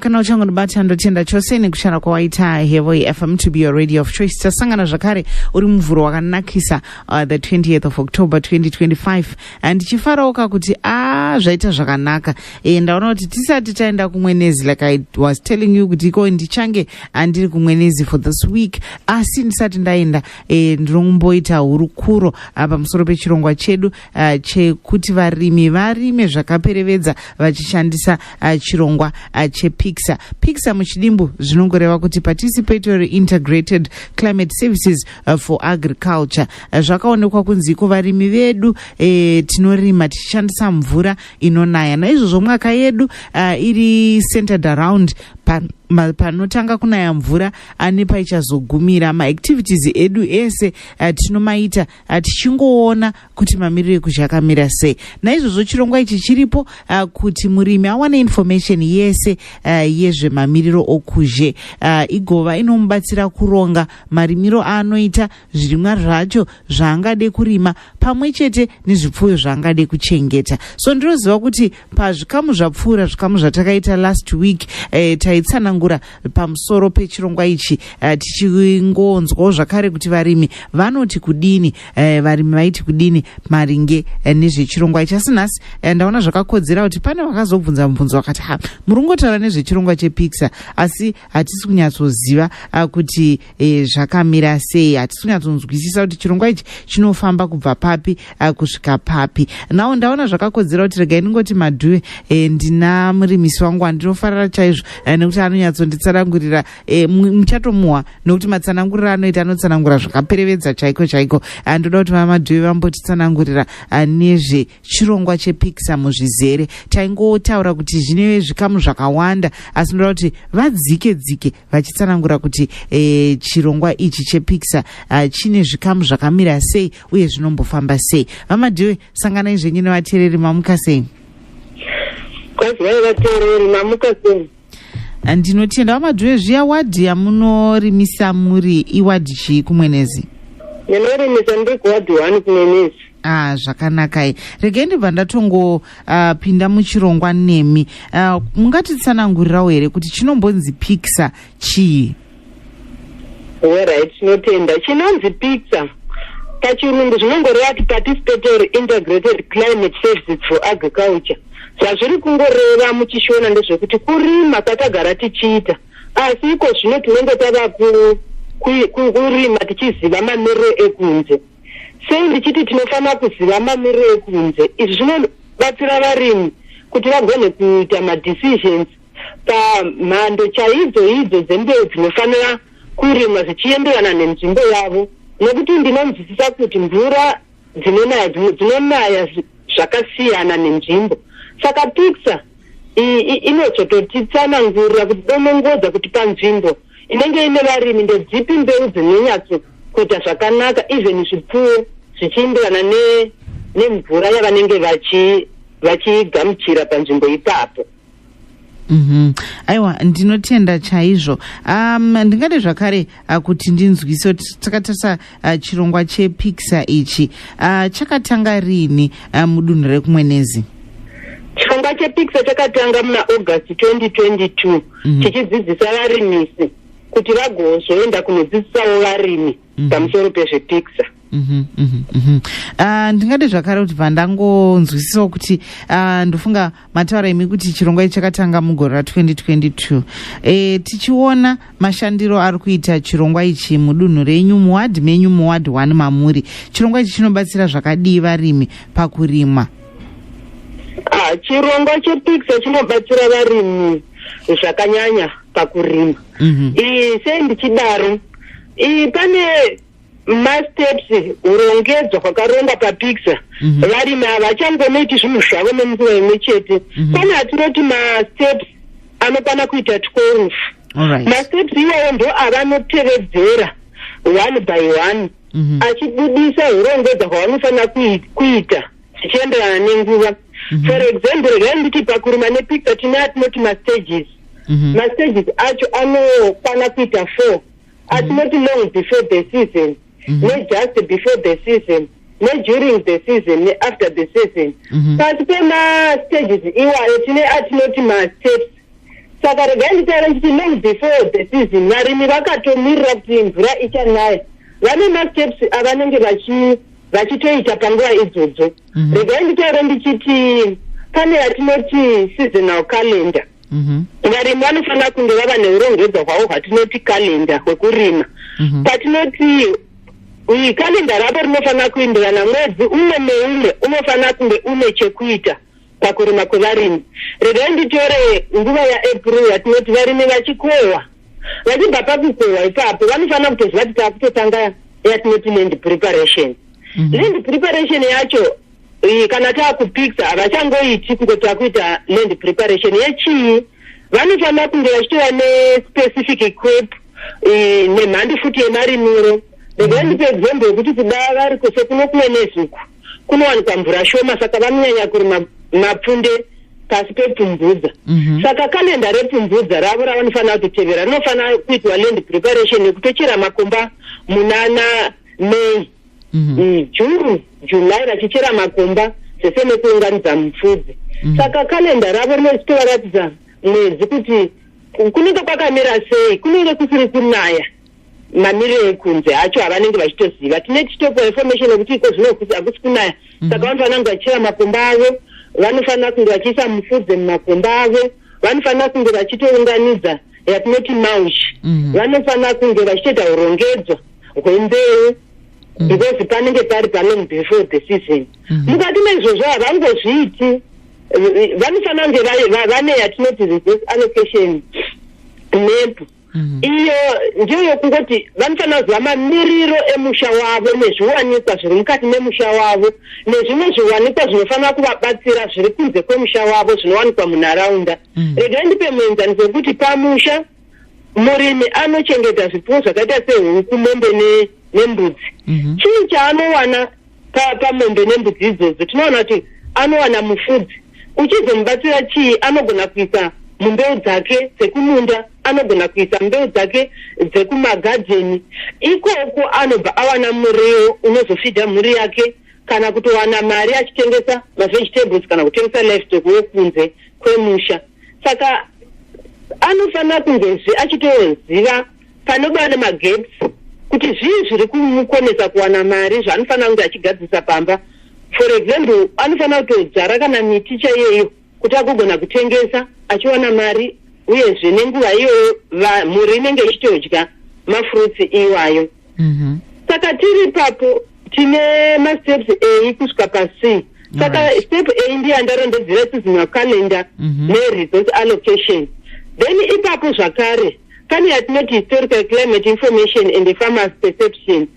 kana uchangonibata ndotenda chose nekushanda kwawaita hevo yefm to be your radio of choice tasangana zvakare uri muvhuro wakanakisa uh, the 20th of october 2025 ndichifarawo ka kuti a ah, zvaita zvakanaka e, ndaona kuti tisati taenda kumwenezi like i was telling you kuti iko ndichange andiri kumwenezi for this week asi ndisati ndaenda e, ndinokumboita hurukuro ah, pamusoro pechirongwa chedu uh, chekuti varimi varime zvakaperevedza vachishandisa uh, chirongwa uh, chepixa pixa muchidimbu zvinongoreva kuti participatory integrated climate services uh, for agriculture uh, zvakaonekwa kunzi iko varimi vedu e, tinorima tichishandisa mvura inonaya naizvozvo mwaka yedu uh, iri centered around panotanga kunaya mvura ane paichazogumira maactivities edu ese uh, tinomaita uh, tichingoona kuti mamiriro ekuzha akamira sei naizvozvo chirongwa ichi chiripo uh, kuti murimi awane information yese uh, yezvemamiriro okuzhe uh, igova inomubatsira kuronga marimiro aanoita zvirimwa zvacho zvaangade kurima pamwe chete nezvipfuyo zvaangade kuchengeta so ndinoziva kuti pazvikamu zvapfuura zvikamu zvatakaita last week eh, taitsanangura pamusoro pechirongwa ichi eh, tichingonzwawo zvakare kuti varimi vanoti kudini eh, varimi vaiti kudini maringe eh, nezvechirongwa ichi asi nhasi eh, ndaona zvakakodzera kuti pane vakazobvunza mubvunzo vakati ha murungotaura nezvechirongwa chepixer asi hatisi kunyatsoziva ah, kuti e, zvakamira sei hatisi kunyatsonzwisisa kuti chirongwa ichi chinofamba kubva papi ah, kusvika papi nawo ndaona zvakakodzera kuti regai ndingoti madhuve e, ndina murimisi wangu wandinofarira chaizvo e, nekuti anonyatsonditsanangurira e, muchatomuwa nekuti matsananguriro anoita anotsanangura zvakaperevedza chaiko chaiko ndoda kuti vamadhuve vambotitsanangurira nezve chirongwa chepikisa muzvizere taingotaura kuti zvine zvikamu zvakawanda asi ndoda kuti vadzike dzike vachitsanangura kuti e, chirongwa ichi chepikisa uh, eh, chine zvikamu zvakamira sei uye zvinombofamba sei vamadhiwe sanganai zvenyu nevateereri mamuka sei eh, ndinotenda vamadhiwe zviya wadhi yamunorimisa muri iwadhi chii kumwenezi ndinorimisa ndikuwadhi one kumwenezi Ah, zvakanakai regai ndibva ndatongopinda ah, uh, muchirongwa nemi uh, ah, mungatitsanangurirawo here kuti chinombonzi pixar chii orit tinotenda chinonzi pixar pachirungu zvinongoreva ti participatory integrated climate services for agriculture zvazviri kungoreva muchishona ndezvekuti kurima kwatagara tichiita asi iko zvino tinenge tava kurima tichiziva mamiriro ekunze ku, sei ndichiti tinofanira kuziva mamiriro ekunze izvi zvinobatsira varimi kuti vagone kuita madecisions pamhando chaidzo idzo dzembeu dzinofanira kurimwa zvichienderana nenzvimbo yavo nokuti ndinonzwisisa kuti mvura dzinonaya dzimwe dzinonaya zvakasiyana nenzvimbo saka picture inozototitsanangurira kuti donongodza kuti panzvimbo inenge ine varimi ndedzipi mbeu dzinonyatso kuita zvakanaka even zvipfuwo zvichiindirana nemvura ne yavanenge vachigamuchira panzvimbo ipapo mm -hmm. aiwa ndinotenda chaizvo um, ndingade zvakare uh, kuti ndinzwise kuti takatarisa uh, chirongwa chepixar ichi uh, chakatanga rini uh, mudunhu rekumwenezi chirongwa chepixar chakatanga muna august 2022 mhm. tichidzidzisa varimisi kuti vagozoenda kunodzidzisawo varimi mhm. pamusoro pezvepiksa mhm, ah, ndingade zvakare kuti pandangonzwisisawo kuti ah, ndofunga mataura imi kuti chirongwa ichi chakatanga mugore ra2022 eh, tichiona mashandiro ari kuita chirongwa ichi mudunhu renyu muwadhi menyu muwadhi one mamuri chirongwa ichi chinobatsira zvakadii varimi pakurima Ah, chirongwa chepixo chinobatsira varimi zvakanyanya pakurima Mhm. Ii, sei ndichidaro Ii, pane masteps urongedzwa kwakarongwa papixo Mhm. varimi havachangonoiti zvinhu zvavo nemukuva imwe chete Mhm. pane atinoti masteps anokwana kuita 12 All right. masteps iwayo ndo avanotevedzera one by one mhm. achibudisa hurongedza hwavanofanira kuita zvichienderana nenguva mhm. for example regai nditi pakurima nepicture tine atinoti mastages mhm. mastages acho anokwana kuita four atinoti long before the season nejust before the season neduring the season neafter the season pasi pemastages iwayo tine atinoti masteps saka regai nditaura nditi long before the season varimi vakatomirira kuti mvura ichanaya vane masteps avanenge vachitoita panguva idzodzo mhm. regai nditaura ndichiti pane yatinoti seasonal calendar mhm. varimi vanofanira kunge vava neurongedzwa hwavo hwatinoti calendar hwekurima mhm. patinoti calendar ravo rinofanira kuindirana mwedzi umwe neumwe unofanira kunge une chekuita pakurima kwevarimi regai nditore nguva yaapril yatinoti varimi vachikohwa vachibva pakukohwa ipapo vanofanira kutoziva kuti taakutotanga yatinoti land preparation mhm. land preparation yacho iyi kana taakupixa havachangoiti kunge taakuita land preparation yechii vanofanira kunge vachitova nespecific equip nemhandi futi yemarimiro regai ndipe example yekuti kuda vari kuse kuno kunenezuku kunowanikwa mvura shoma saka vanonyanya kurima mapfunde pasi pepfumbudza mm -hmm. saka kalenda repfumbudza ravo ravanofanira kutotevera rinofanira kuitwa land preparation yekutochera makomba munana may mm -hmm. june july vachichera makomba zvese nekuunganidza mupfudzi mm -hmm. saka kalenda ravo rinozitovaratidza mwedzi kuti kunenge kwakamira sei kunenge kusiri kunaya mamiriro ekunze acho avanenge vachitoziva tine tichitopa information yekuti iko zvino hakusi kunaya mhm. saka vanhu vanange vachichera makomba avo vanofanira kunge vachiisa mufudze mumakomba avo vanofanira kunge vachitounganidza yatinoti maush mhm. vanofanira kunge vachitoita urongedzo hwembeu mhm. because panenge pari palong before the season mukati meizvozvo havangozviiti vanofanira kunge vane yatinoti resource allocation map Mhm. iyo ndeyokuti vanofanira kuziva mamiriro emusha wavo nezviwanikwa zviri mukati memusha wavo nezvimwe zviwanikwa zvinofanira kuvabatsira zviri kunze kwemusha wavo zvinowanikwa munharaunda mhm. regai ndipe muenzaniso wekuti pamusha murimi anochengeta zvipfuwo zvakaita sehuku mombe nembudzi mhm. chii chaanowana pamombe nembudzi idzodzo tinoona kuti anowana mufudzi uchizomubatsira chii anogona kuisa mumbeu dzake dzekumunda anogona kuisa mbeu dzake dzekumagadheni ikoko anobva awana muriwo unozofidha mhuri yake kana kutowana mari achitengesa mavegetables kana kutengesa lifestock wekunze kwemusha saka anofanira kunge zve achitoziva panova nemageps kuti zvii zviri kumukonesa kuwana mari zvaanofanira kunge achigadzirisa pamba for example anofanira kutodzvara kana miti chaiyeyo kuti agogona kutengesa achiwana mari uyezve nenguva iyoyo mhuri inenge ichitodya mafruits iwayo mhm. saka tiri ipapo tine masteps ei kusvika pasii saka step a ndiyo andarondedzera seasonal calendar mhm. neresource allocation then ipapo zvakare pane yatinoti historical climate information and the farmers perception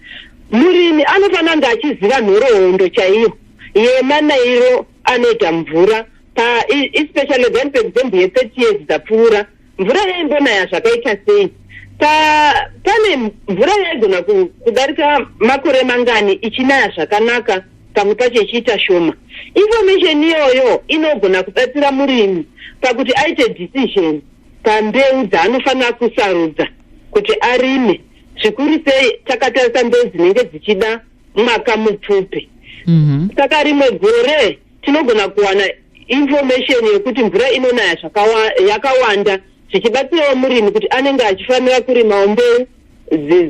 murimi anofanira kunge achiziva nhoroondo chaiyo yemanairo anoita mvura paespecially then paexample ye30 years dzapfuura mvura yaimbonaya zvakaita sei pane mvura yaigona kudarika makore mangani ichinaya zvakanaka pamwe pacho ichiita shoma information iyoyo inogona kubatsira murimi pakuti aite decision pambeu dzaanofanira kusarudza kuti arime zvikuru sei takatarisa mbeu dzinenge dzichida mwaka mupfupi mhm. saka mm -hmm. rimwe gore tinogona kuwana information yekuti mvura inonaya yakawanda zvichibatsirawo murimi kuti anenge achifanira kurimawo mbeu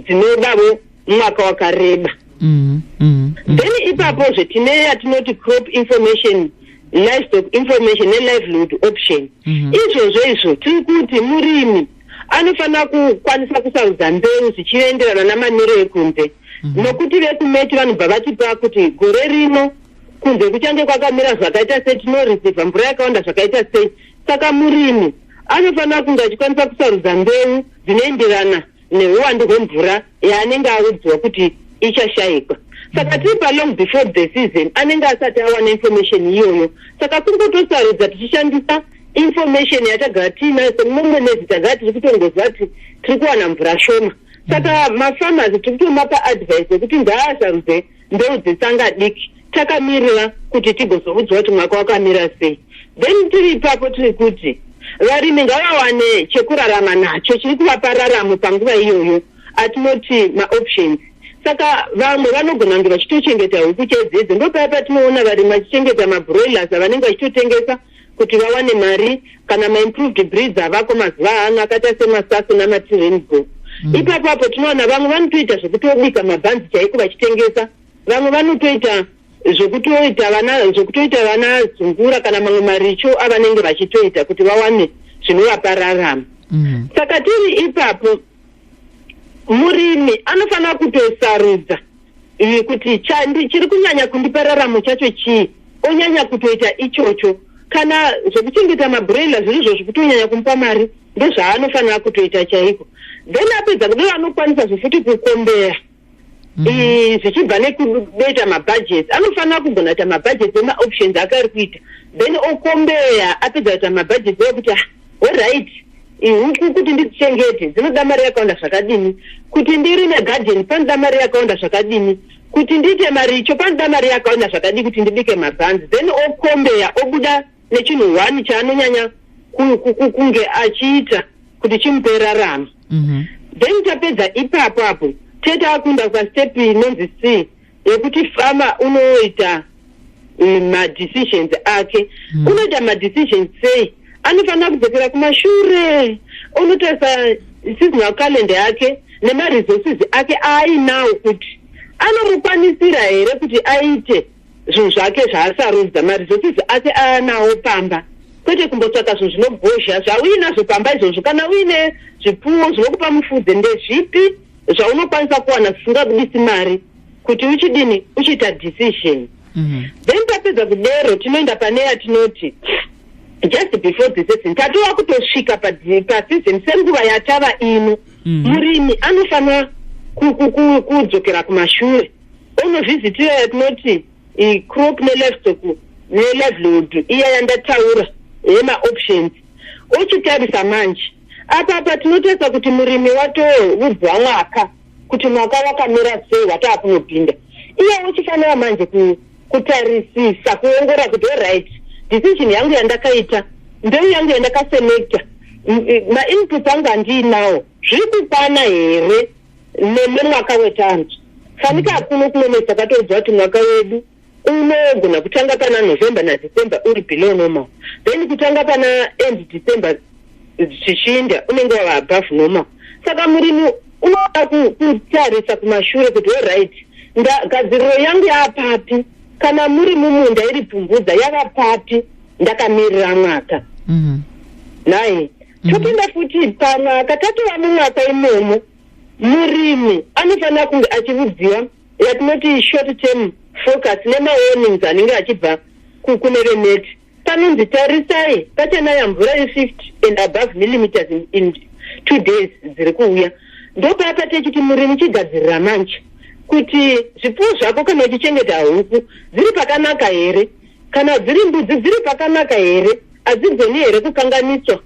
dzinodavo mwaka wakareba mm, mm, mm. then ipapo zve tine yatinoti crop information livestock information nelivelihood option mhm. izvozvo mm -hmm. izvo tiri kuti murimi anofanira kukwanisa kusarudza mbeu zvichienderana namanero ekunze mm Mhm. nokuti vekumeti vanobva vatipa kuti gore rino kunze kuchange kwakamira zvakaita sei tinoreceiva mvura yakawanda zvakaita sei saka murimi Anofanira kunge achikwanisa kusarudza mbeu dzinoenderana nehuwandu hwemvura yaanenge audzwa kuti ichashaikwa saka tiri palong before the season anenge asati awana information iyoyo saka kuri kutosarudza tichishandisa information yatagara tiinayo semumwe mwedzi tagara tiri kutongoziva kuti tiri kuwana mvura shoma saka mafarmers tiri kutomapa advice yekuti ngaasarudze ndoudze tsanga diki takamirira kuti tigozoudzwa kuti mwaka wakamira sei then tiri ipapo tiri kuti varimi ngavawane chekurarama nacho chiri kuvapa raramo panguva iyoyo atinoti maoptions saka vamwe vanogona kunge vachitochengeta huku chedzidzi ndopaya patinoona varimi vachichengeta mabroilers avanenge vachitotengesa kuti vawane mari kana maimproved breeds avako mazuva ano akaita semasasu namatirenbo mm. ipapo apo tinoona vamwe vanotoita zvekutobika mabhanzi chaiko vachitengesa vamwe vanotoita zvekutoita vana zvekutoita vana zungura kana mamwe maricho avanenge vachitoita kuti vawane zvinovapa rarama mm. saka tiri ipapo murimi anofanira kutosarudza iyi kuti chandi chiri kunyanya kundipa raramo chacho chii onyanya kutoita ichocho kana zvekuchengeta mabrela zviri izvo zvekutonyanya kumupa mari ndezvaanofanira kutoita chaiko then apedza kudai anokwanisa zvefuti kukombera mhm. zvichibva nekudoita mabhajeti anofanira kugona kuita mabhajeti emaoptions akaari kuita then okombeya apedza kuita mabhajeti ekuti ah, Alright, ihuku kuti ndidzichengete dzinoda mari yakawanda zvakadini, kuti ndirime garden panoda mari yakawanda zvakadini, kuti ndiite maricho panoda mari yakawanda zvakadii kuti ndibike mabhanzi, then okombeya obuda nechinhu one chaanonyanya ku- ku- ku- kunge achiita kuti chimupe raramo. Mhm. then tapedza ipapo apo tete akunda pastep inonzi c yekuti farmer unoita eh, madecisions ake mm. unoita madecisions sei anofanira kudzokera kumashure unotarisa seasonal calendar yake nemaresources ake aainawo kuti anomukwanisira here kuti aite zvinhu zvake zvaasarudza maresources ake aanawo pamba kwete kumbotsvaka zvinhu zvinogozha zvauinazvo pamba izvozvo kana uine zvipfuwo zvinokupa mufudze ndezvipi zvaunokwanisa kuwana zvisingabudisi mari kuti uchidini uchiita decision mhm. then tapedza kudero tinoenda pane yatinoti just before the season tatova kutosvika paseason senguva yatava ino mhm. murimi anofanira kudzokera kumashure onovhizitira yatinoti crop nelivestock nelivelihood iya yandataura yemaoptions ochitarisa manje Apa apa tinotarisa kuti murimi watoudzwa mwaka kuti mwaka wakamira sei wataa kunopinda iye uchifanira manje kutarisisa kuongora kuti oriht decision yangu yandakaita ndeu yangu yandakaselecta mainput angu andiinawo zviri kukwana here nemwaka wetanzi fanika akuno kunonetsa katoudzwa kuti mwaka wedu unogona kutanga pana november nadecember uri below normal then kutanga pana end december zvichiinda unenge wava above normal saka murimi unoda kutarisa kumashure kuti oright gadziriro yangu yaapapi kana muri mumunda iri pfumvudza yava papi ndakamirira mwaka mhm. nai mhm. topinda futi pamwaka tatova mumwaka imomo murimi anofanira kunge achiudziwa yatinoti short term focus nemawarnings anenge achibva kune veneti panonzi tarisai pachanaya mvura yefifty and above millimeters in, in two days dziri kuuya ndopapa techiti murimi chigadzirira manje kuti zvipfuwo zvako kana uchichengeta huku dziri pakanaka here kana dziri mbudzi dziri pakanaka here hadzigoni here kukanganiswa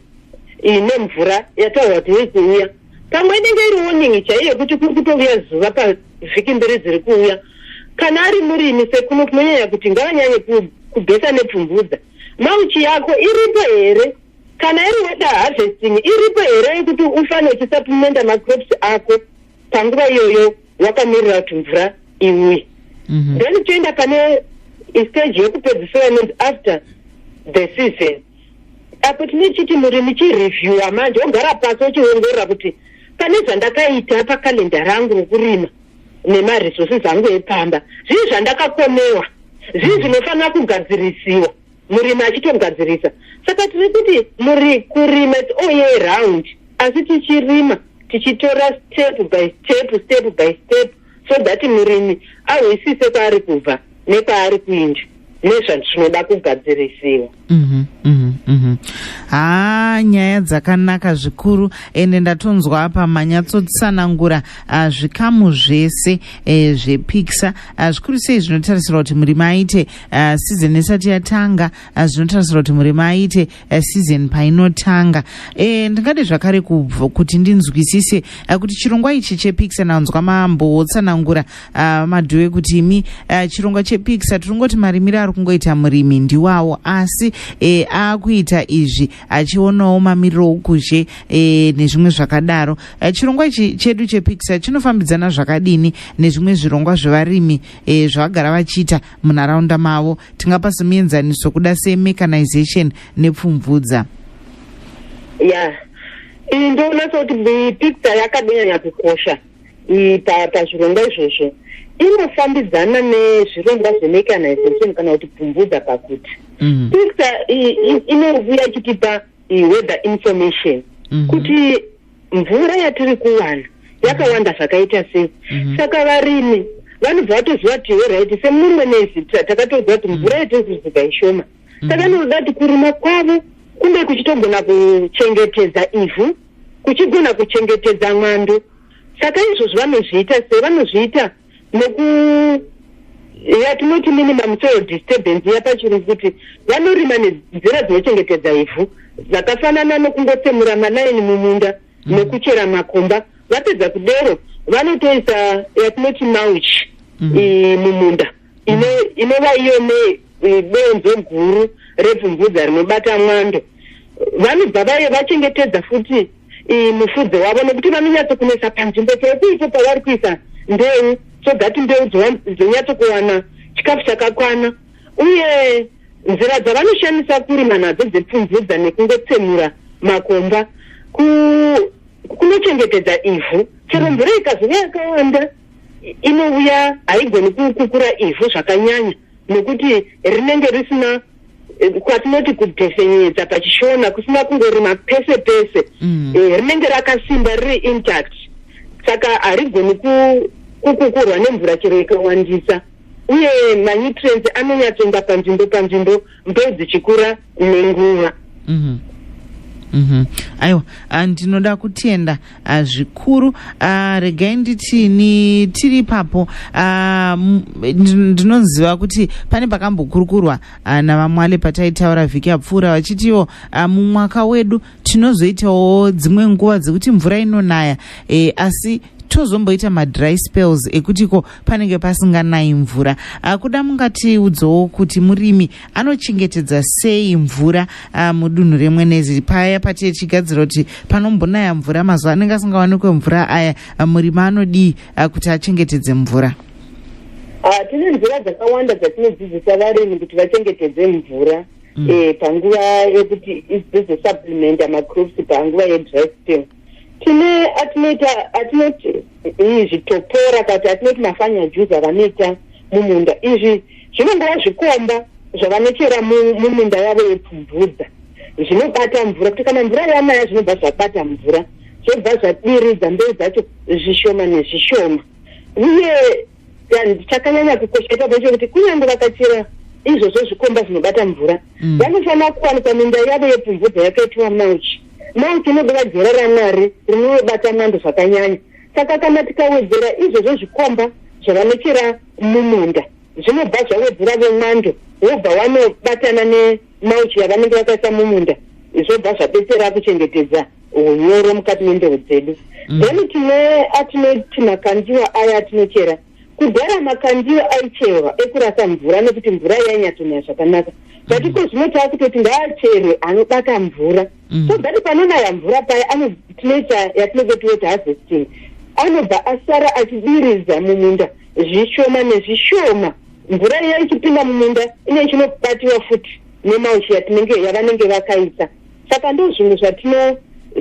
nemvura yataurwa kuti yekuuya pamwe inenge iri warning chaiyo yekuti kuri kutouya zuva pavhiki mberi dziri kuuya kana ari murimi sekuno kunonyanya kuti ngavanyanye kubhesa nepfumbudza mauchi yako iripo here kana iri weda harvesting iripo here yekuti ufane uchisaplimenda macrops ako panguva iyoyo wakamirira kuti mvura iuye mhm. then toenda pane stage yekupedzisira inonzi after the season apo tine chiti muri muchireviewa manje ogara pasi ochiongorora kuti pane zvandakaita pakalenda rangu rokurima nemaresources angu epamba zvii zvandakakomewa zvii mm. zvinofanira kugadzirisiwa murimi achitogadzirisa saka tiri kuti muri kurima all year round asi tichirima tichitora step by step step by step, step so that murimi ahwisise kwaari kubva nekwaari kuinda nezvatinoda kugadzirisiwa mhm, mhm, mhm. haa nyaya dzakanaka zvikuru ende ndatonzwa apa manyatsotsanangura ah, zvikamu zvese eh, zvepikisa ah, zvikuru sei zvinotarisirwa kuti murimi aite ah, sizeni isati yatanga zvinotarisirwa kuti murimi aite eh, season painotanga e, ndingade zvakare kubvo kuti ndinzwisise uh, kuti chirongwa ichi chepixer nanzwa mambo wotsanangura uh, ah, madhuwe kuti imi uh, chirongwa chepixer tiri ngoti marimiro ari kungoita murimi ndiwawo asi e, akuita izvi achionawo mamiriro okuzhe e, nezvimwe zvakadaro uh, chirongwa ichi chedu chepixer chinofambidzana zvakadini nezvimwe zvirongwa zvevarimi e, zvavagara vachiita munharaunda mavo tingapa somuenzaniso kuda semecanization nepfumvudza ya yeah. iyi ndoona sekuti picture yakadonyanya kukosha pazvirongwa izvozvo inofambidzana nezvirongwa zvemecanization kana kuti pfumvudza pakuti mm. picture inovuya ichitipa weather information mm-hmm. kuti mvura yatiri kuwana yakawanda mhm. zvakaita sei mhm. saka varimi vanobva vatoziva kuti horit semumwe nezita takatoziva kuti mvura yatiri kuzuga ishoma saka noda kuti kurima kwavo kunge kuchitogona kuchengetedza ivhu kuchigona kuchengetedza mwando saka izvozvo vanozviita sei vanozviita neku yatinoti minimum soil disturbance yapachirungu kuti vanorima nenzira dzinochengetedza ivhu zvakafanana nokungotsemura manaini mumunda mm. nekuchera makomba vapedza kudero vanotoisa yatinoti mauch mm. mumunda mm. inova iyo nedonzo guru repfumvudza rinobata mwando vanobva vaye vachengetedza futi mufudze wavo nekuti vanonyatsokunetsa panzvimbo pekuipo pavari kuisa mbeu so that mbeu dzonyatsokuwana chikafu chakakwana uye nzira dzavanoshandisa kurima nadzo dzepfumvudza nekungotsemura makomba kunochengetedza ivhu chero mm. mvura ikazova yakawanda inouya haigoni kukura ivhu zvakanyanya nekuti rinenge risina kwatinoti kudhefenyedza pachishona kusina kungorima pese pese mm. eh, rinenge rakasimba riri intact saka harigoni kukukurwa nemvura chero ikawandisa uye manutrients anonyatsoenda panzvimbo panzvimbo mbeu dzichikura nenguva mm -hmm. mm -hmm. aiwa ah, ndinoda kutenda Ah, zvikuru ah, regai nditi ni tiri ipapo ah, ndinoziva kuti pane pakambokurukurwa navamwale pataitaura vhiki yapfuura vachitiwo mumwaka wedu tinozoitawo dzimwe nguva dzekuti mvura inonaya eh, asi tozomboita madry spells ekutiko panenge pasinganayi mvura kuda mungatiudzowo kuti murimi anochengetedza sei mvura ah, mudunhu remwenezi paya pati tichigadzira kuti panombonaya mvura mazuva anenge asingawanikwe mvura aya ah, murimi anodii ah, kuti achengetedze mvura tine nzira dzakawanda dzatinodzidzisa varimi kuti vachengetedze mvura mm. eh, panguva yekuti idzizosupplementa macrops panguva yedry spell tine atinoita atinoti izvi topora kati atinoti mafanya juzi avanoita mumunda izvi zvinongova zvikomba zvavanochera mumunda yavo yepfumvudza zvinobata mvura kuti kana mvura yanaya zvinobva zvabata mvura zvobva zvadiridza mbeu dzacho zvishoma nezvishoma uye and chakanyanya kukosha ipapo ndechekuti kunyange vakachera izvozvo zvikomba zvinobata mvura mm. vanofanira kuwanikwa minda yavo yepfumvudza yakaitwa mauchi mauchi inodova jera ramwari rinobata mwando zvakanyanya saka kana tikawedzera izvozvo zvikomba zvavanochera mumunda zvinobva zvawedzera vemwando wobva wanobatana nemauchi yavanenge vakaisa mumunda zvobva zvabetsera kuchengetedza unyoro mukati mendeu dzedu mm. then tine atinoti makandiwa aya atinochera kudhara makandiwa aicherwa ekurasa mvura nekuti mvura yainyatonaya zvakanaka but iko zvino taakutoti ngaacherwe anobata mvura mm. so that panonaya mvura paya tinoita yatinenge tiwoti harvesting anobva asara achidiridza mumunda zvishoma nezvishoma mvura iya ichipinda mumunda ine chinobatiwa futi nemauchi yatinenge yavanenge vakaisa saka ndo zvinhu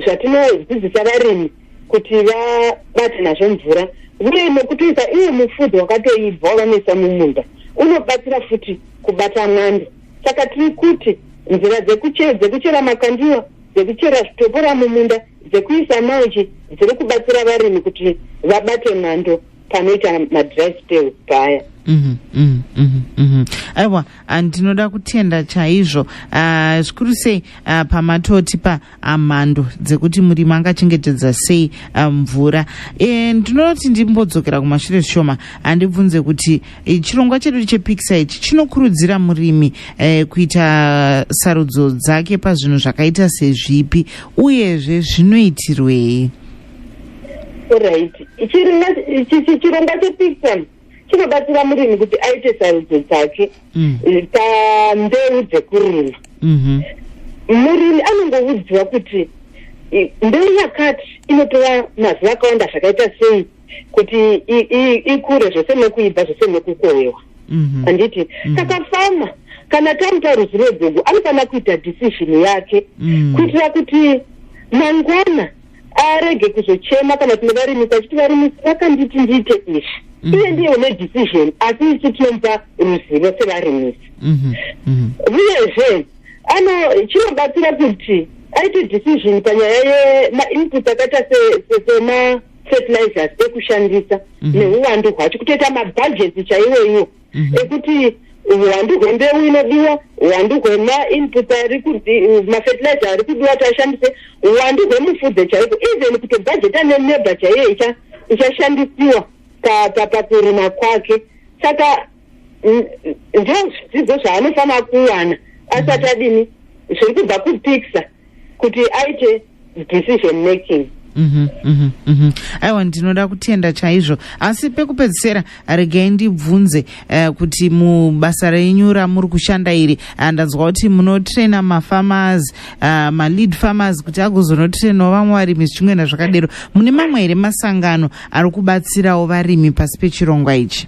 zvatinodzidzisa varimi kuti vabate nazvo mvura uye nekutoisa iye mufudzi wakatoibva wavanoisa mumunda unobatsira futi kubata mwando saka tiri kuti nzira dzekuchera makandiwa dzekuchera zvitopora mumunda dzekuisa mauchi dziri kubatsira varimi kuti vabate mwando panoita madry spells paya mhm, mhm, mhm, aiwa ah, ndinoda kutenda chaizvo ah, zvikuru sei ah, pamatoti pa mhando dzekuti murimi angachengetedza sei mvura eh, ndinoda kuti ndimbodzokera kumashure zvishoma handibvunze kuti eh, chirongwa chedu chepikisa ichi chinokurudzira murimi eh, kuita sarudzo dzake pazvinhu zvakaita sezvipi uyezve zvinoitirwei orit chirongwa chepixam chinobatsira murimi kuti aite sarudzo dzake mm. eh, pandeu dzekurima mhm. murimi anongoudziwa kuti eh, mbeu yakati inotora mazuva akawanda zvakaita sei kuti ikure zvese nekuibva zvese nekukowewa mhm. anditi mhm. saka fama kana taita ruzivo gogo anofanira kuita decision yake kuitira kuti mangwana arege kuzochema kana kune varimisi achiti varimisi vakanditi ndiite izvi mm. iye ndiye une decision asi isu tinomupa ruzivo sevarimisi mm-hmm. mm-hmm. uyezve ano chinobatsira kuti aite decision panyaya yemainput akaita sema fertilizers ekushandisa mm-hmm. neuwandu hwacho kutoita mabhajeti chaiwoiwo mhm. ekuti huwandu hwembeu inodiwa huwandu hwemainput ari kudi mafertilizer ari kudiwa ti ashandise huwandu hwemufudze chaiko even kutobhajeta neneba chaiyo icha ichashandisiwa pakurima kwake saka ndio zvidzidzo zvaanofanira kuwana asati adini zviri kubva kupikisa kuti aite decision making Mhm, mhm, mhm. aiwa ndinoda kutenda chaizvo asi pekupedzisira regai ndibvunze eh, kuti mubasa renyu ramuri kushanda iri ah, ndanzwa kuti munotraina mafarmers ah, malead farmers kuti agozonotrainawo vamwe varimi zvichingwena zvakadero mune mamwe here masangano ari kubatsirawo varimi pasi pechirongwa ichi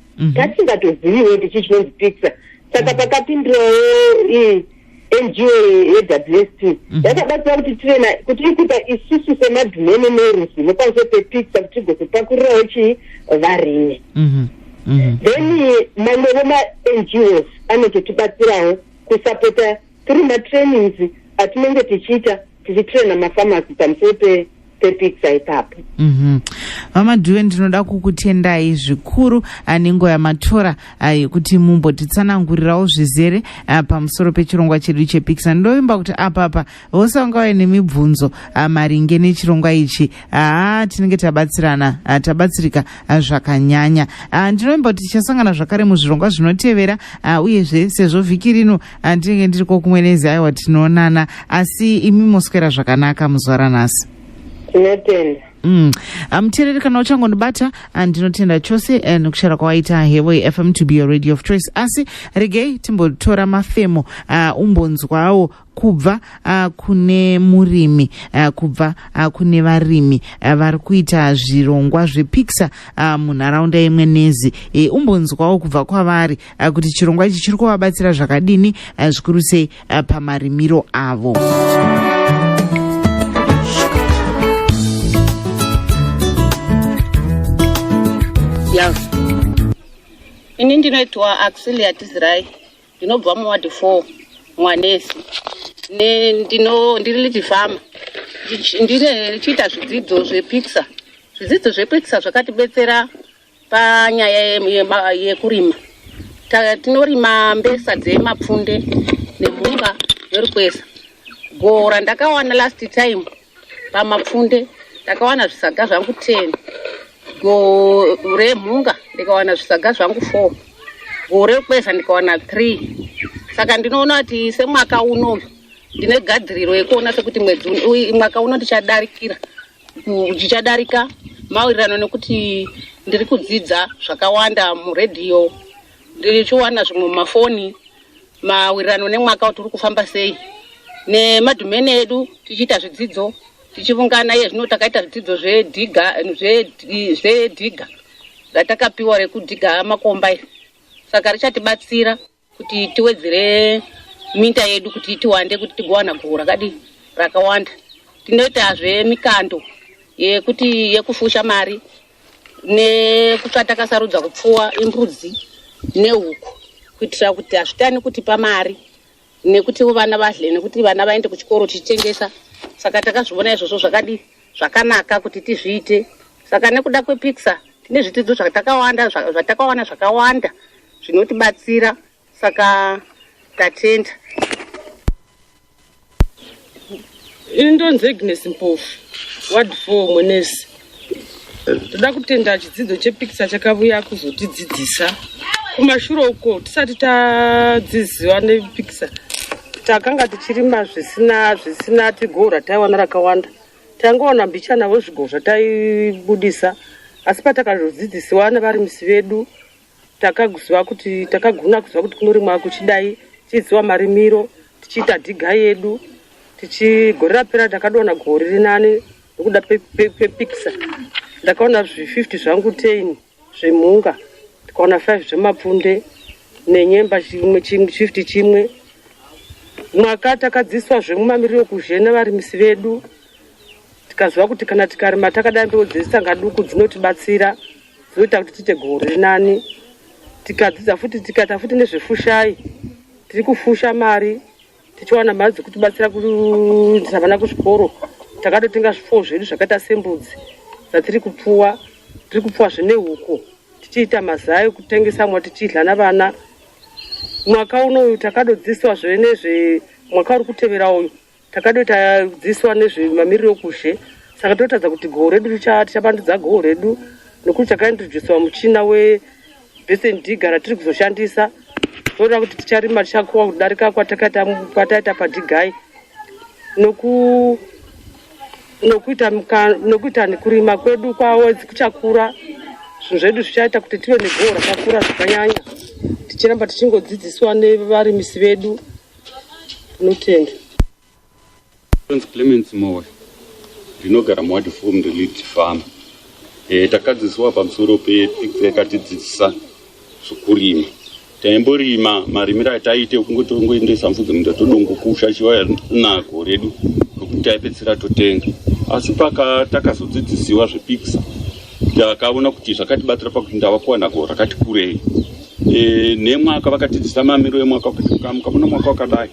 mhm. tasingatoziviwo kuti chii chinonzi pixar saka pakapindirawo ii ngo yewst mhm. yakabatsira kuti tive na kuti ikuita isusu semadhumene neruzi nepamusoro pepixar kuti tigozopakurirawo chii varimi mhm. Mhm. then mamwevo mangos anototibatsirawo kusapota tiri matrainings atinenge tichiita tichitraina mafamasi pamusoro pe pepizza ipapo mhm. vamadhuve ndinoda kukutendai zvikuru anengo yamatora ah, yekuti mumbotitsanangurirawo zvizere ah, pamusoro pechirongwa chedu chepizza ndovimba kuti apapa vose vanga vave nemibvunzo ah, maringe nechirongwa ichi haa tinenge tabatsirana tabatsirika zvakanyanya ndinovimba kuti tichasangana zvakare muzvirongwa zvinotevera uyezve sezvo vhiki rino andinenge ndiri kokumwe nezi aiwa tinoonana asi imi moswera zvakanaka muzuva ranhasi tinotenda mm. amuteereri kana uchangondibata andinotenda chose eh, nekushara kwawaita hevo yefm to be your radio of choice asi regei timbotora mafemo uh, umbonzwawo kubva uh, kune murimi uh, kubva uh, kune varimi uh, vari kuita zvirongwa zvepixer uh, munharaunda yemwenezi e, umbonzwawo kubva kwavari eh, kuti chirongwa ichi chiri kuvabatsira zvakadini eh, zvikuru sei eh, pamarimiro avo ini ndinoitwa auxilia tizirai ndinobva muwadi four mwanesi ndiri liti fama ndichiita zvidzidzo zvepixer zvidzidzo zvepixer zvakatibetsera Panyaya yekurima tinorima mbesa dzemapfunde nemhunga nerukweza. Gora ndakawana last time pamapfunde ndakawana zvisaga zvangu ten gore mhunga ndikawana zvisaga zvangu four gore kweza ndikawana three saka ndinoona kuti semwaka uno ndine gadiriro yekuona sekuti mwedzi mwaka uno ndichadarikira zvichadarika mawirirano nekuti ndiri kudzidza zvakawanda muredhiyo ndichiwana zvimwe mumafoni mawirirano nemwaka kuti uri kufamba sei nemadhumeni edu tichiita zvidzidzo tichivungana iye zvino takaita zvidzidzo zvedhiga zvedhiga ratakapiwa rekudhiga makomba iri saka richatibatsira kuti tiwedzere minda yedu kuti tiwande kuti tigowana goho rakadii rakawanda tinoitazve mikando yekuti yekufusha mari nekutsvatakasarudza kupfuwa imbudzi nehuku kuitira kuti hazvitani kutipa mari nekuti vana vadle nekuti vana vaende kuchikoro tichitengesa saka takazviona izvozvo zvakadii zvakanaka kuti tizviite saka nekuda kwepixar tine zvitidzo zvatakawanda zvatakawana zvakawanda zvinotibatsira saka tatenda indonzi agnes mpofu ward four mwenesi toda kutenda chidzidzo chepikisa chakavuya kuzotidzidzisa kumashure uko tisati tadziziva nepikisa takanga tichirima zvisina zvisina tigo rataiwana rakawanda tangoona mbichana wezvigo zvataibudisa asi patakazodzidzisiwa nevarimisi vedu takaziva kuti takagona kuziva kuti kunorimwa kuchidai tichiziva marimiro tichiita dhiga yedu tichigore rapera takadona gore rinani nekuda pepikisa ndakaona zvi 50 zvangu 10 zvemhunga tikaona 5 zvemapfunde nenyemba chimwe chimwe chifti chimwe mwaka takadziswa zvemumamiriro kuzhe nevarimisi vedu tikaziva kuti kana tikarima takadai mbeu dzezitanga duku dzinotibatsira dzinoita kuti tiite goho riri nani tikadzidza futi tikaita futi nezvefushai tiri kufusha mari tichiwana mari dzekutibatsira kuendesa vana kuzvikoro takatotenga zvipfuwo zvedu zvakaita sembudzi dzatiri kupfuwa tiri kupfuwa zvine huku tichiita mazai ekutengesa mwa tichidla navana mwaka uno uyu takadodzidziswa zve nezve mwaka uri kutevera uyu takadoita dzidziswa nezvemamiriro okuzhe saka totadza kuti goho redu richa- tichabandudza goho redu nokuti takaintroduciwa muchina we Basin digger ratiri kuzoshandisa toona kuti ticharima tichakuwa kudarika kwatakaita kwataita padigai noku nokuita muka- nokuita nekurima kwedu kwawedzi kuchakura zvinhu zvedu zvichaita kuti tive negoho rakakura zvakanyanya tichiramba tichingodzidziswa nevarimisi vedu tinotenda Prince Clements Mowe ndinogara muward four ndelead farm e, eh, takadzidziswa pamusoro peethics yakatidzidzisa zvokurima taimborima marimiro ataiite kungoti ongoendesa mfudzi munda todongokusha chiva nago redu rokuti taipedzisira totenga asi paka takazodzidzisiwa zvepikisa takaona kuti zvakatibatsira pakuti ndava kuwana go rakati kurei e, nemwaka vakatidzisa mamiro emwaka kuti mukamukavona mwaka wakadai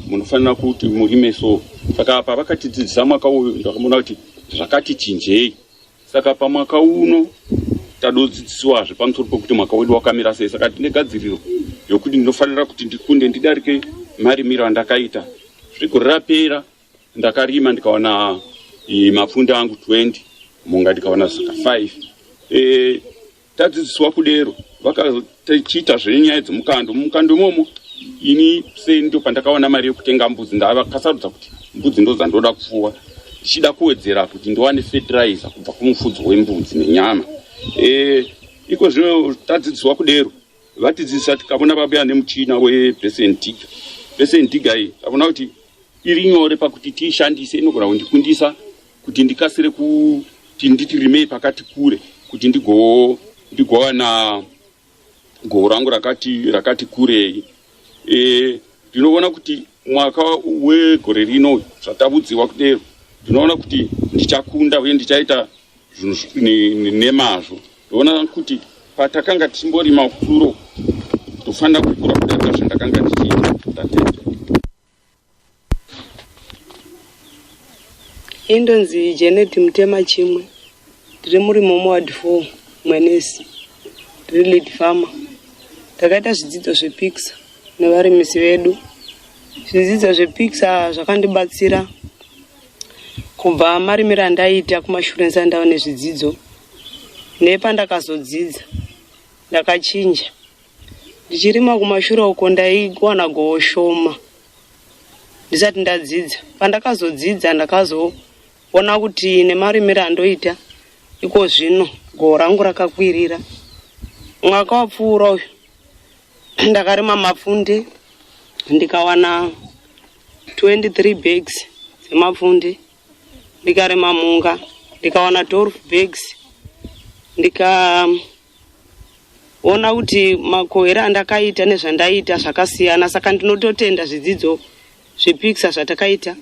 munofanira kuti murime so saka apa vakatidzidzisa mwaka uyu ndakaona kuti zvakati chinjei saka pamwaka uno tadodzidziswazve pamusoro pekuti mwaka wedu wakamira sei saka tine gadziriro yokuti ndinofanira kuti ndikunde ndidarike marimiro andakaita zvigore rapera ndakarima ndikawana e, mapfunda angu 20 munga ndikawana saka 5 e, Tadzidziswa kudero vakatiita zvenyaya dzemukando mumukando imomo ini seni ndo pandakaona mari yekutenga mbudzi ndavakasarudza kuti mbudzi ndodzandoda kupfuwa ndichida kuwedzera kuti ndiwane fertilizer kubva kumufudzi wembudzi nenyama e, iko zvino tadzidziswa kudero vatidzidzisa tikavona vabuya nemuchina webesentiga besentiga iyi tavona kuti iri nyore pakuti tiishandise inogona kundikundisa kuti ndikasire kuti nditi rimei pakati kure kuti ndigo ndigowana goho rangu rakati rakati kurei e, ndinoona kuti mwaka wegore rino zvatavudziwa kudero ndinoona kuti ndichakunda uye ndichaita zvinhu nemazvo ndoona kuti patakanga tichimborima kuro ndofanira kukura kudaka zvandakanga ndichiita tatete indonzi janet mutema chimwe tiri muri momoward four mwenesi tiri lead farmer takaita zvidzidzo zvepikisa nevarimisi vedu zvidzidzo zvepikisa zvakandibatsira kubva marimiro andaiita kumashurence andava nezvidzidzo nepandakazodzidza ndakachinja ndichirima kumashura uko ndaiwana goho shoma ndisati ndadzidza pandakazodzidza ndakazoona kuti nemarimiro andoita iko zvino goho rangu rakakwirira mwaka wapfuura uyu ndakarima mapfunde ndikawana 23 bags dzemapfunde ndikarima mhunga ndikawana 12 bags ndika ona kuti makohera andakaita nezvandaita zvakasiyana saka ndinototenda zvidzidzo zvepikisa zvatakaita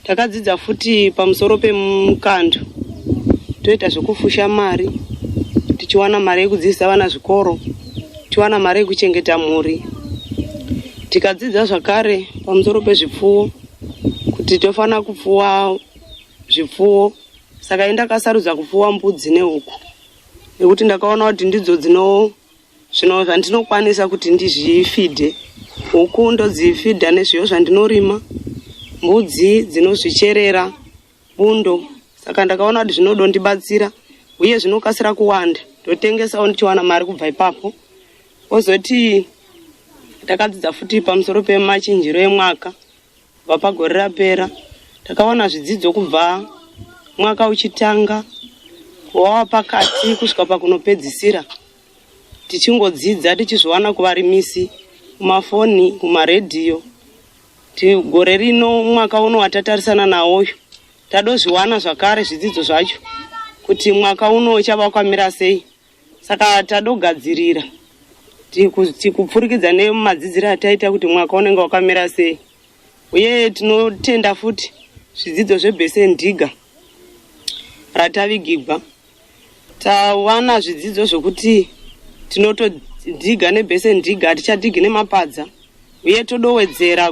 takadzidza futi pamusoro pemukando toita zvekufusha mari tichiwana mari yekudzidzisa vana zvikoro tichiwana mari yekuchengeta mhuri tikadzidza zvakare pamusoro pezvipfuwo kuti tofanira kupfuwa zvipfuwo saka indakasarudza kupfuwa mbudzi nehuku nekuti ndakaona kuti ndidzo dzino zvino zvandinokwanisa kuti ndizvifidhe huku ndodzifidha nezviyo zvandinorima mbudzi dzinozvicherera bundo saka ndakaona kuti zvinodondibatsira uye zvinokasira kuwanda ndotengesawo ndichiwana mari kubva ipapo ozoti takadzidza futi pamusoro pemachinjiro emwaka Kubva pagore rapera takawana zvidzidzo kubva mwaka uchitanga kuwawa pakati kusvika pakunopedzisira tichingodzidza tichizviwana kuvarimisi kumafoni kumaredhiyo gore rino mwaka uno watatarisana nawo uyu tadozviwana zvakare zvidzidzo zvacho kuti mwaka uno uchavakwamira sei saka tadogadzirira tikupfurikidza nemadzidziro ataita kuti mwaka unenge wakamira sei uye tinotenda futi zvidzidzo zvebese ndiga ratavigigwa tawana zvidzidzo zvokuti tinotodhiga nebese ndiga hatichadhigi nemapadza uye todowedzera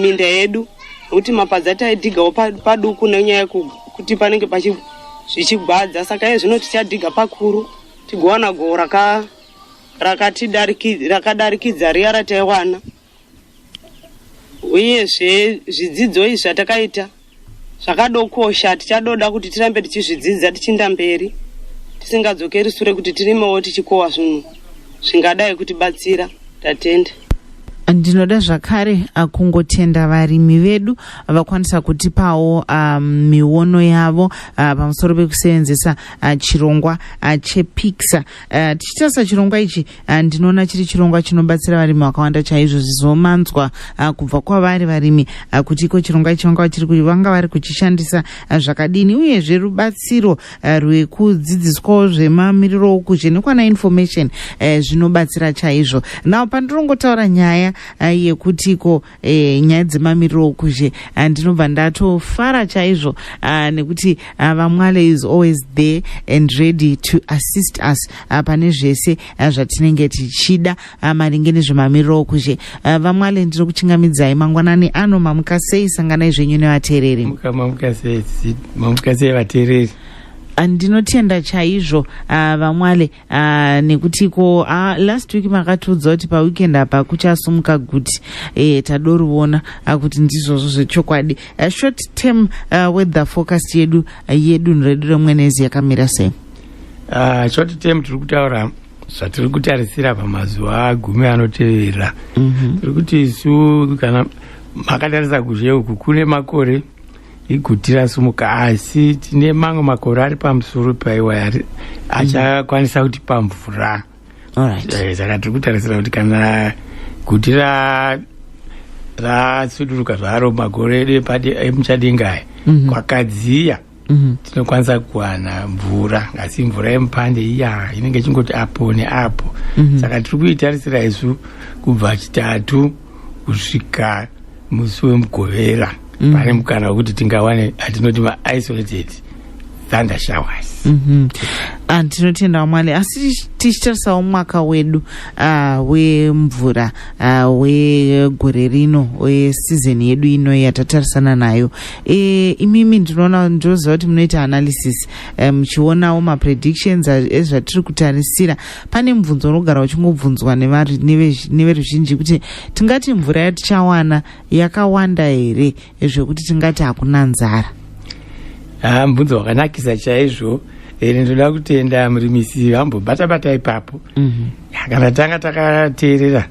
minda yedu nokuti mapadza taidhigawo paduku nenyaya yekuti panenge zvichigwadza saka iye zvino tichadhiga pakuru tigowana goho rakadarikidza riya rataiwana uyezve zvidzidzo izvi zvatakaita zvakadokosha tichadoda kuti tirambe tichizvidzidza tichinda mberi tisingadzokeri sure kuti tirimewo tichikowa zvinhu zvingadai kutibatsira tatenda ndinoda zvakare ah, kungotenda varimi vedu vakwanisa kutipawo ah, miono yavo uh, pamusoro pekusevenzesa uh, chirongwa uh, chepixa uh, tichitarisa chirongwa ichi Ah, ndinoona chiri chirongwa chinobatsira varimi vakawanda chaizvo zvizomanzwa ah, kubva kwavari varimi ah, kuti iko chirongwa ichi vanga vachiri kuti vanga vari kuchishandisa zvakadini uyezve rubatsiro rwekudzidziswawo zvemamiriro okuzhe nekwana information eh, zvinobatsira chaizvo now pandirongotaura nyaya yekuti ko e, nyaya dzemamiriro okuzhe ah, ndinobva ndatofara chaizvo ah, nekuti vamwale is always there and ready to assist us pane zvese zvatinenge tichida maringe nezvemamiriro okuzhe vamwale ndino kuchingamidzai mangwanani ano mamuka sei sanganai zvenyu nevateereri andinotenda chaizvo vamwale Uh, nekuti ko uh, last week makatiudza kuti paweekend apa kuchasumuka guti eh, tadorivona uh, kuti ndizvozvo zvechokwadi uh, short term uh, weather forecast yedu uh, yedunhu redu remwenezi yakamira sei uh, short term tiri kutaura zvatiri kutarisira pamazuva gumi anotevera mm -hmm. tiri kuti isu kana makatarisa kuzhe uku kune makore iguti rasimuka asi tine mamwe makore ari pamusoro paiwa achakwanisa kuti pamvura eh, saka tiri kutarisira kuti kana guti rasuduruka zvaro makore edu emuchadenga aya mhm. kwakadziya mhm. tinokwanisa kuwana mvura asi mvura yemupande iya inenge ichingoti apo neapo mhm. saka tiri kuitarisira isu kubva chitatu kusvika musi wemugovera mm. pane mukana wekuti tingawane atinoti maisolated thunder showers mm -hmm. and tinotenda wamwari asi tichitarisawo mwaka wedu uh, wemvura uh, wegore rino wesizoni yedu ino yatatarisana nayo e, imimi ndinoona ndinoziva kuti munoita analysis e, muchionawo um, mapredictions ezvatiri kutarisira pane mubvunzo unogara uchingobvunzwa neveruzhinji kuti tingati mvura yatichawana yakawanda here zvekuti tingati hakuna nzara haa mubvunzo wakanakisa chaizvo ere ndoda kutenda murimisi vambobata bata ipapo mhm. kana tanga takateerera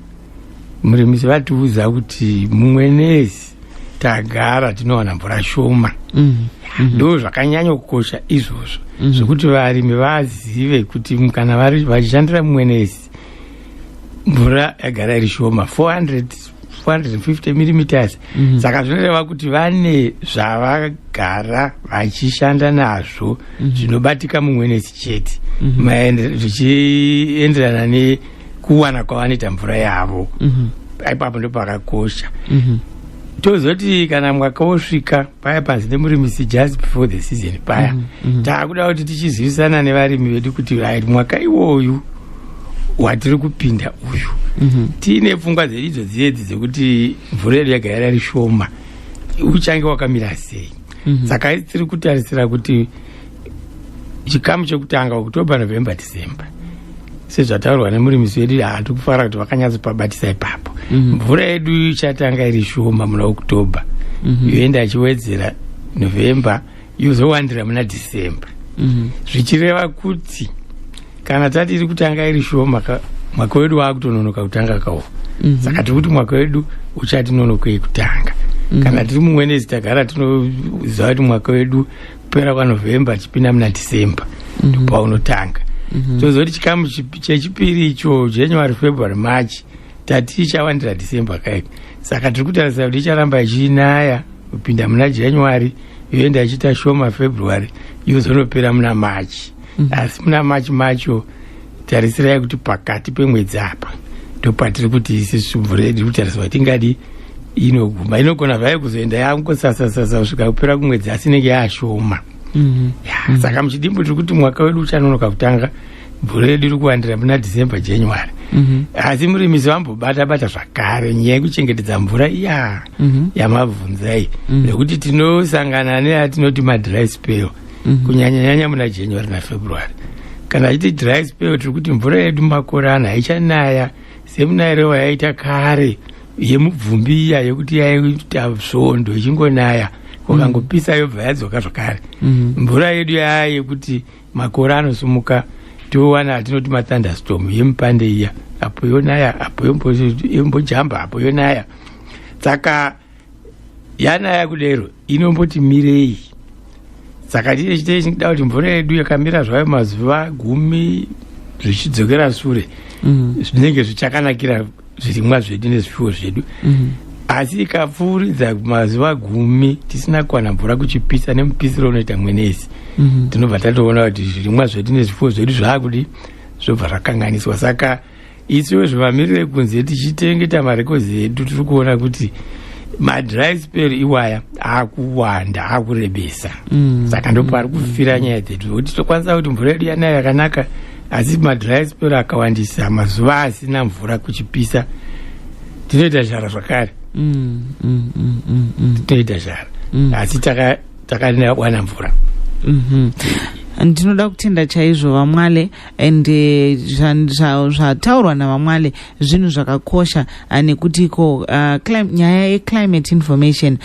murimisi vatiudza kuti mumwenezi tagara tinowana mvura shoma mm. ndo zvakanyanya kukosha izvozvo mm. zvekuti varimi vazive kuti kana vachishandira mumwenezi mvura yagara iri shoma 400 450 millimeters mhm. saka zvinoreva kuti vane zvavagara vachishanda nazvo mhm. zvinobatika mumwenezi chete mhm. zvichienderana mm -hmm. kuwana kwavanoita mvura yavo mm -hmm. ipapo ndo pakakosha mm -hmm. tozoti kana mwaka wosvika paya panzi nemurimisi just before the season paya mm -hmm. taakuda kuti tichizivisana nevarimi vedu kuti right mwaka iwoyu watiri kupinda uyu mm -hmm. tiine pfungwa dzedu idzo dziedzi dzekuti mvura yedu yaga yarari shoma uchange wakamira sei mm -hmm. saka tiri kutarisira kuti chikamu chekutanga october november december sezvataurwa nemurimisi wedu hati kufara kuti vakanyatsopabatisa ipapo mhm. mvura mm -hmm. yedu ichatanga iri shoma muna october mm -hmm. yoenda achiwedzera november yozowandira muna december mm -hmm. zvichireva kuti kana tati iri kutanga iri shoma mwaka wedu waakutononoka kutanga kawo mm -hmm. saka tiri kuti mwaka wedu uchati nonokei kutanga mm -hmm. kana tiri mumwenezi tagara tinoziva kuti mwaka wedu kupera kwanovhemba tichipinda muna december mm -hmm. paunotanga mm -hmm. tozoti chikamu chechipiri icho january february march tati ichavandira december kaika saka tiri kutarisa kuti icharamba ichinaya kupinda muna january yoenda ichiita shoma february yozonopera muna march mm -hmm. asi muna march macho tarisirai kuti pakati pemwedzi apa ndopatiri kuti isi svubvure tiri kutariswa tingadi inoguma inogona zvayo kuzoenda yangosasasasa kusvika kupera kumwedzi asi inenge yaashoma mhm. saka muchidimbo tiri kuti mwaka wedu uchanonoka kutanga bhuru redu iri kuwandira muna december january mhm. asi murimisi vambobata bata zvakare nyaya yekuchengetedza mvura iya mhm. yamabvunzai nekuti tinosangana neyatinoti madry spell mhm. kunyanya nyanya muna january nafebruary kana achiti dry spell tiri kuti mvura yedu makorana haichanaya semunayirewa yaita kare yemubvumbi iya yekuti yaita svondo ichingonaya ukangopisa mhm. yobva yadzoka zvakare mhm. mvura yedu yaya yekuti makore anosumuka towana atinoti mathunderstorm yemupande iya apo yonaya apo yombojamba apo yonaya saka yana yakudero inomboti mirei saka chii chitei chingida kuti mvura yedu yakamira zvayo mazuva gumi zvichidzokera sure mm. zvinenge zvichakanakira zvirimwa zvedu nezvipfuwo zvedu mm. asi ikapfuuridza mazuva gumi tisina kuwana mvura kuchipisa nemupisiro unoita mwenezi mm. tinobva tatoona kuti zvirimwa zvedu nezvipfuwo zvedu zvaakudi zvobva zvakanganiswa saka isiwo zvivamiriro ekunze tichitengeta marekodzi edu tiri kuona kuti madry spell iwaya akuwanda akurebesa mm. saka ndopo ari kufira nyaya dzedu kuti tokwanisa kuti mvura yedu yanayo yakanaka asi madry spell akawandisa mazuva asina mvura kuchipisa tinoita zhara zvakare mm, mm, mm, tinoita zhara asi takawana mvura mm-hmm. ndinoda kutenda chaizvo vamwale and eh, zvataurwa navamwale zvinhu zvakakosha eh, nekuti iko eh, nyaya yeclimate information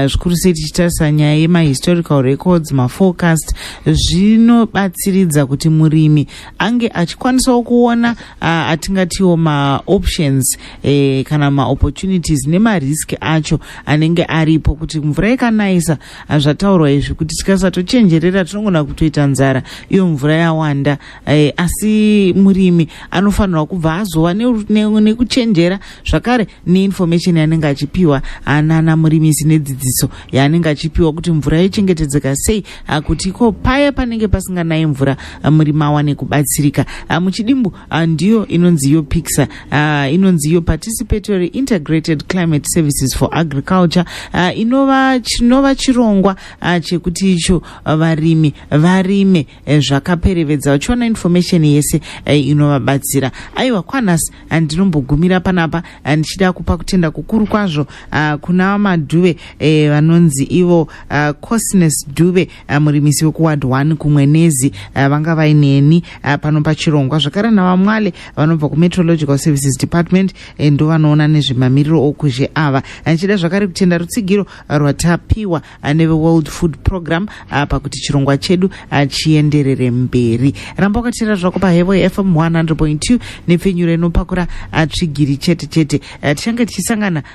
zvikuru sei tichitarisa nyaya yemahistorical records maforecast zvinobatsiridza kuti murimi ange achikwanisawo kuona atingatiwo maoptions kana maopportunities nemarisk acho anenge aripo kuti mvura ikanayisa hazvataurwa izvi kuti tikasatochenjerera tinongona kutoita nzara iyo mvura yawanda eh, asi murimi anofanirwa kubva azova nekuchenjera ne, ne zvakare neinformation yaanenge achipiwa anana murimisi nedzidziso yaanenge achipiwa kuti mvura yochengetedzeka sei ah, kuti ko paya panenge pasinganayi mvura ah, murimi awane kubatsirika ah, muchidimbu Ah, ndiyo inonzi iyo pixa ah, inonzi iyo participatory integrated climate services for agriculture ah, inova chinova chirongwa chekuti icho varimi varime eh, zvakaperevedza vachiona information yese eh, inovabatsira aiwa kwanas ndinombogumira panapa ndichida kupa kutenda kukuru kwazvo kuna madhuve eh, vanonzi ivo cosnes duve Eh, murimisi wekuward one kumwenezi eh, vanga vaineni eh, pano pachirongwa zvakare navamwale vanobva kumeteorological services department ndo vanoona nezvemamiriro okuzhe ava ndichida zvakare kutenda rutsigiro rwatapiwa neveworld food program pakuti chirongwa chedu chienderere mberi ramba wakatira zvako pahevo yefm 100.2 nepfenyuro inopakura tsvigiri chete chete tichange tichisangana